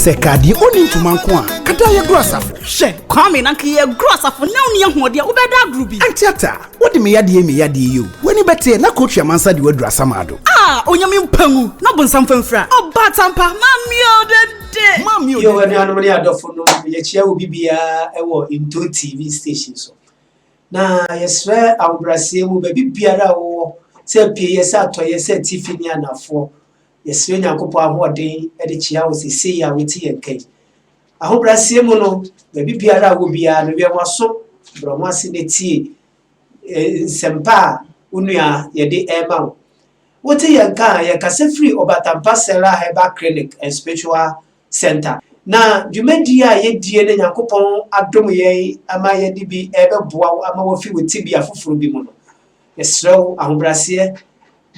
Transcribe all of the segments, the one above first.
sɛ kadeɛ ɔni ntoma nko a kada yɛgoro asafo hyɛ kwame na nka yɛgoro asafo na woni ahoɔden a wobɛda agoro bi antiata wode me yadeɛ me yadeɛ yi o w'ani bɛteɛ na kootwi amansa de waduru asamaado a onyame mpa mu na ɔbonsam famfira ɔba tampa mameɛ ɔdɛdɛ mameɛ ɔdɛdɛ anuanom ne adɔfo no yɛkyia wo bibiaa ɛwɔ nto tv station so Na yɛsrɛ ahobrɛaseɛ mu baabi biara a wowɔ, sɛ apieɛ, sɛ atɔeɛ, sɛ atifi ne anafoɔ, yɛsrɛ Nyankopɔn ahoɔden de kyea wo sesei a wote yɛn nka yi. Ahobrɛaseɛ mu no, baabi biara a wɔ biara no, wɛn w'aso, brɛ ho ase na tie e, nsɛmpa a wo nua yɛde ɛrema wo. Wote yɛn nka a, yɛkasa firi Obatampa Sarah Herbal Clinic and Spiritual Centre. Na dwumadie a yɛdie na Nyankopɔn adom yɛn ama yɛde bi rebɛboa wo ama woafi wo tebea foforɔ bi mu no, yɛsrɛ wo ahobrɛaseɛ,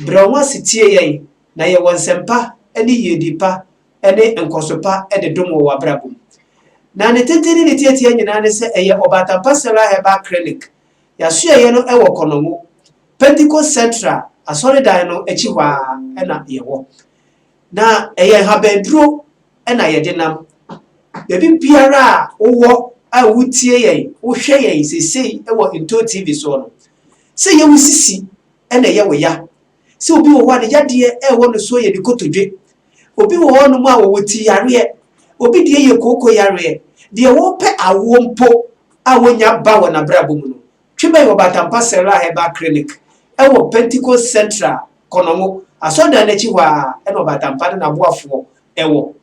brɛ wo ho ase tie yɛn na yɛ wɔ nsɛmpa ne yiedie pa ne nkɔso pa de dom wɔ w'abrabɔ mu. Na ne tenten ne ne tiatia nyinaa ne sɛ ɛyɛ Ɔbatampa Sarah Herbal Clinic, y'asoɛeɛ no wɔ Kɔnɔngo, Pentecost Central asɔredan no akyi hɔ ara na yɛwɔ. Na ɛyɛ nhabanduro na yɛde nam. Baabi biara a wowɔ a wotie yɛn, wohwɛ yɛn seesei wɔ Ntoo TV soɔ no, sɛ ɛyɛ wo sisi na ɛyɛ wo ya, sɛ obi wɔ hɔ a ne yadeɛ rewɔ no soɔ yɛ ne kotodwe, obi wɔ hɔnom a ɔwɔ ti yareɛ, obi deɛ yɛ kooko yareɛ, deɛ ɔrepɛ awoɔ mpo a ɔnnya ba wɔ n'abrabɔ mu no, twe bɛn wɔ Batampa Serra Herbal Clinic wɔ Pentecost Central, Kɔnɔngo, asɔrdan no akyi hɔ ara na Ɔbatampa ne n'aboafoɔ wɔ.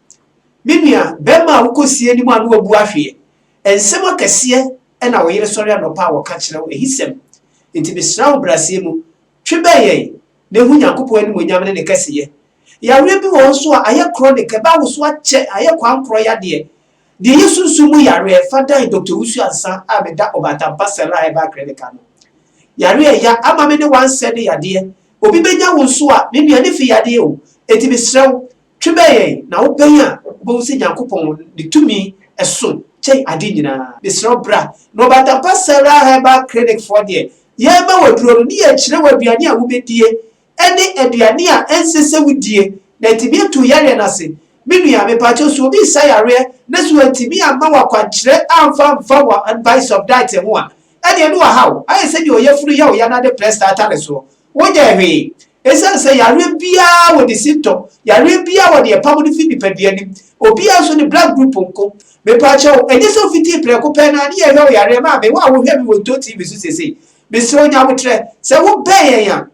Me nua bɛrima a wokɔsie anim a na wabu ahweɛ, nsɛm akɛseɛ na wo yere sɔre anɔpa a ɔka kyerɛ wo, ahisɛm. Enti mesrɛ wo brasɛɛ mu, twe bɛn yɛn na ehu Nyankopɔn animuonyam ne ne kɛseyɛ. Yareɛ bi wɔ hɔ nso a ayɛ chronic, ɛba awoso akyɛ, ayɛ koankorɔ yadeɛ. Deɛ ɛyɛ sunsum mu yareɛ fa dan Doctor Owusu Ansah a meda Ɔbaatampa Sarah Herbal Clinic ano. Yareɛ a ɛya ama me ne wansɛ ne yadeɛ. Obi bɛnya wo nso a, me nua ne fi yadeɛ o, enti mesrɛ wo Twe bɛn yɛn, na wo bɛn a, wobɛhu sɛ Nyankopɔn ne tumi so kyɛn ade nyinaa. Mesrɛ wo bra, na ɔbatampa Sarah Herbal Clinic foɔ deɛ, yɛrema wo aduro no, ne yɛkyerɛ wo aduane a wobɛdie, ɛne aduane a ɛnsɛ sɛ wodie, na atumi atu wo yareɛ no ase. Me nua, mepakyɛw, sɛ obi resa yareɛ, na sɛ wantumi amma wo akwankyerɛ amfa amfa wɔ advice of diet ho a, ɛdeɛ ne wahaw, ayɛ sɛdeɛ ɔyafunu yɛ wo yanade prɛsta atare soɔ. Wonyɛɛ hwee. Esiane sɛ yareɛ biara wɔ ne symptom, yareɛ biara wɔ deɛ ɛpamo no firi nipadua no mu, obiara nso ne blood group nko. Mepakyɛ wo, ɛnyɛ sɛ wofitii prɛko pɛ no ara ne yɛhwɛ wo yareɛ maa me, wo a wohwɛ me wɔ Ntoo TV so seesei. Mesrɛ wo nya aboterɛ, sɛ wobɛn yɛn a,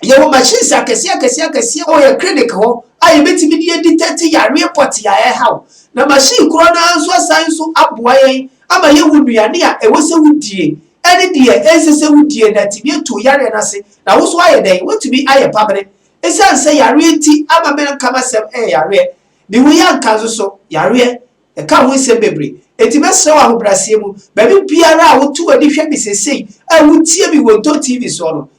yɛwɔ machines akɛseɛ akɛseɛ akɛseɛ wɔ yɛn clinic hɔ a yɛbɛtumi de adetect yareɛ pɔtee a ɛreha wo, na machine korɔ no ara nso asan nso aboa yɛn ama yɛhu nnuane a ɛwɔ sɛ wodie ne deɛ ɛnsɛ sɛ wodie na atumi atu wo yareɛ no ase Na wo so ayɛ dɛn? Woatumi ayɛ pabere. Esiane sɛ yareɛ nti ama merenka m'asɛm ɛyɛ yareɛ. Me ho yɛ anka nso so, yareɛ. Ɛka ho nsɛm bebree. Enti mɛsrɛ wo ahobrɛaseɛ mu, baabi biara a woto w'ani hwɛ me seesei a wotie me wɔ Ntɔn TV soɔ no,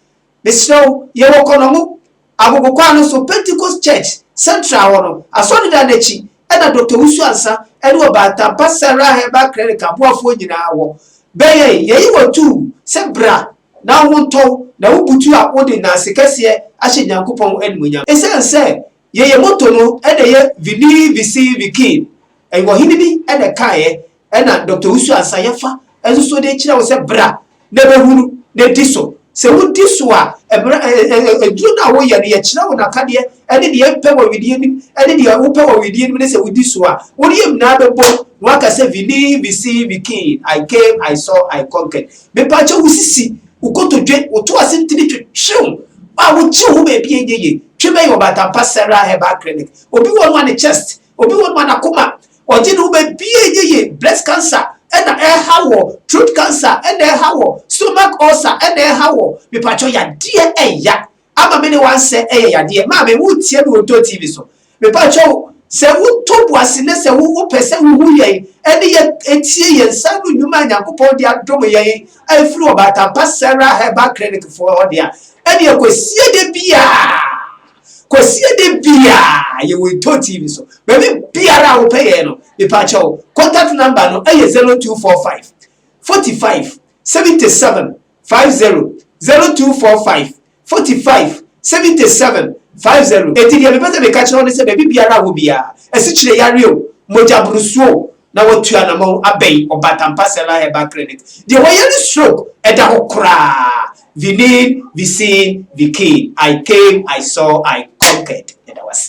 mesrɛ wo, yɛwɔ Kɔnɔngo, Agogo kwan no so, Pentecost Church, Central hɔ no, asɔredan no akyi, ɛna Doctor Wusu Ansah ɛne Ɔbaa Ntampa Sarah Herbal Clinic aboafoɔ nyinaa wɔ. Bɛn yɛn, yɛyi wo atuu sɛ bra Na wo ntɔ, na wo butu a wode nnanse kɛseɛ ahyɛ Nyankopɔn animuonyam. Esiane sɛ yɛyɛ moto no na ɛyɛ Vinii Visii Vikiin, ɛyɛ ɔhene bi na ɛkaeɛ, ɛna Dɔkta Owusu Ansah Yafa nso so de kyerɛ wo sɛ bra na bɛhunu na di so. Sɛ wodi so a, mmara, ɛ, ɛ, ɛ, aduro no a woyɛ no, yɛkyerɛ wo n'akadeɛ ne deɛ ɛmpɛ wɔ wedeɛ no mu ne deɛ wopɛ wɔ wedeɛ no mu ne sɛ wodi so a, wo yam nyinaa bɛbom na woaka sɛ Vinii Visii Vikiin, I came, I saw, I conquered. Mepakyɛw wo sisi, wo kotodwe, wo to ase ntini twe, hyew, a wokyew ho baabi a enye ye, twe bɛn ɔbatampa Sarah Herbal Clinic, obi wɔ no a ne chest, obi wɔ no a n'akoma, ɔgye ne ho baabi a enye ye, breast cancer na ɛrehaw wɔ, throat cancer na ɛrehaw wɔ, stomach ulcer na ɛrehaw wɔ, mepakyɛw yadeɛ ɛya ama me ne wansɛ yɛ yadeɛ. Maame, wo retie me wɔ Ntoo TV so. Me pa kyɛ wo, sɛ wo to bo ase na sɛ wo wo pɛ sɛ wo hu yɛn ɛne yɛ ɛtie yɛn nsa ano nnwuma a Nyankopɔn de adom yɛn a ɛfiri Ɔbaatampa Sarah Herbal Clinic foɔ hɔ de a, ɛneɛ Kwasia da biaa, Kwasia da biaa yɛ wɔ Ntoo TV so. Baabi biara a wo pɛ yɛn no, me pa kyɛ wo, contact number no ɛyɛ 0245 45 77 five zero zero two four five forty five seventy seven five zero eti deɛ mepɛ sɛ meka kyerɛ wo ne sɛ baabi biara a wɔ biara asikyire yareɛ o mogya borosuo o na watu anamɔn abɛn ɔbatampa sɛla herbal clinic deɛ wɔyare stroke ɛda hɔ koraa vinin visin vikin i came i saw i conquered ɛda wase.